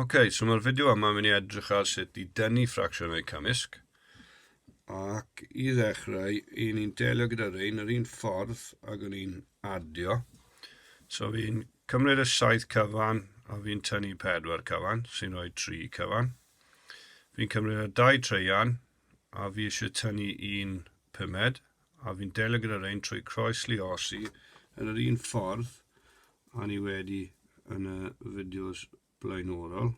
Ok, so mae'r fideo yma mynd i edrych ar sut i dynnu ffracsiynau cymysg. Ac i ddechrau, i ni'n delio gyda rhain yr un ffordd ag o'n i'n adio. So fi'n cymryd y 7 cyfan a fi'n tynnu 4 cyfan, sy'n rhoi 3 cyfan. Fi'n cymryd y 2 treian, a fi eisiau tynnu un pumed a fi'n delio gyda rein trwy croes liosi yn yr un ffordd a ni wedi yn y fideos blaenorol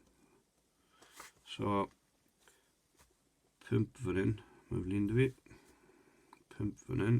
so pump fan hyn mae flin dy fi pump fan hyn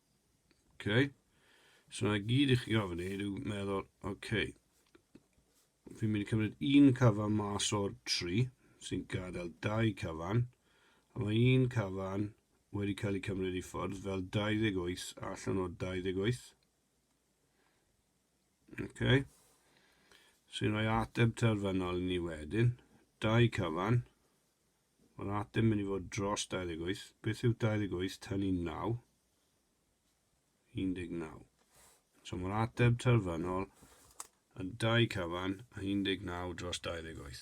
Okay. So na gyd i chi gofyn i yw meddwl, okay, fi'n mynd i cymryd un cyfan mas o'r tri sy'n gadael dau cyfan, a mae un cyfan wedi cael ei cymryd i ffwrdd fel 28 allan o 28. Okay. Sy'n rhoi ateb terfynol i ni wedyn, dau cyfan, Mae yna ateb mynd i fod dros 28. Beth yw 28 tynnu 9? 19. So mae'r ateb terfynol yn 2 cyfan a 19 dros 28.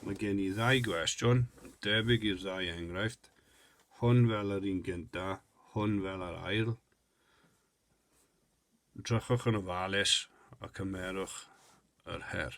Mae gen i ddau gwestiwn, debyg i'r ddau enghraifft, hwn fel yr un gynta, hwn fel yr ail. Drychwch yn ofalus a cymerwch yr her.